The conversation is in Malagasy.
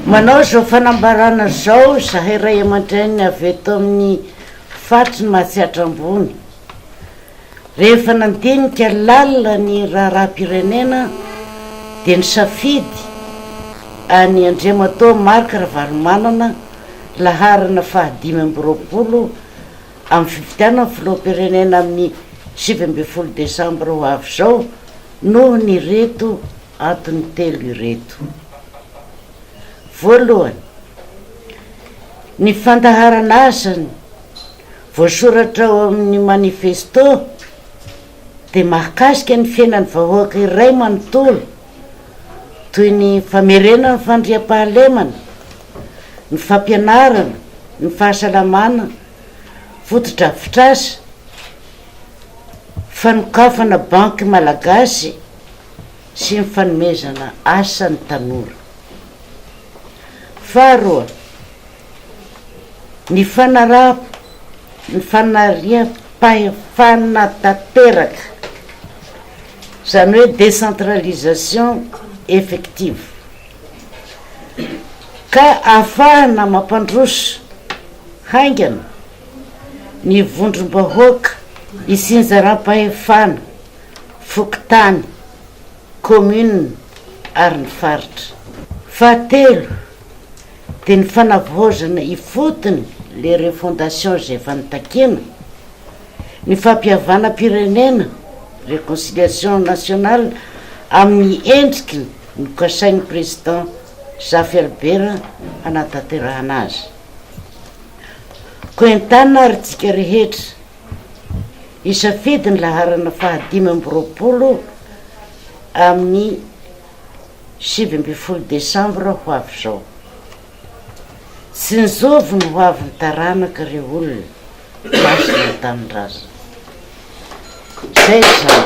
Manao izao fanambarana izao izahay ray aman-dReny avy eto amin'ny faritry ny Mahatsiatra Ambony, rehefa nandinika lalina ny raharaham-pirenena dia nisafidy an'i Andriamatoa Marc Ravalomanana laharana faha dimy amby roapolo amin'ny fifidianana filoham-pirenena amin'ny sivy ambin'ny folo desambra ho avy izao noho ny ireto Antony telo ireto. Voalohany, ny fandaharana asany voasoratra ao amin'ny manifesto dia mahakasika ny fiainan'ny vahoaka iray manontolo toy ny famerenana ny fandriampahalemana, ny fampianarana, ny fahasalamana, fotodrafitrasa, fanokafana banky malagasy, sy ny fanomezana asa ny tanora. Faharoa, ny fanariam-pahefana tanteraka, izany hoe décentralisation effective, ka ahafahana mampandroso haingana ny vondrom-bahoaka isinjaram-pahefana fokontany, commune ary ny faritra. Fahatelo, dia ny fanavaozana ifotony le refondation izay efa notakina, ny fampihavanam-pirenena, reconciliation nationale, amin'ny endriky ny kasain'ny Président Zafy Albert hanatanterahana azy. Koa entanina ary tsika rehetra. Hisafidy ny laharana fahadimy amby roapolo amin'ny sivy ambin'ny folo desambra ho avy izao. Tsinjovy ny hoavin'ny taranaka ry olona masina an-tanindrazana. Izay izany.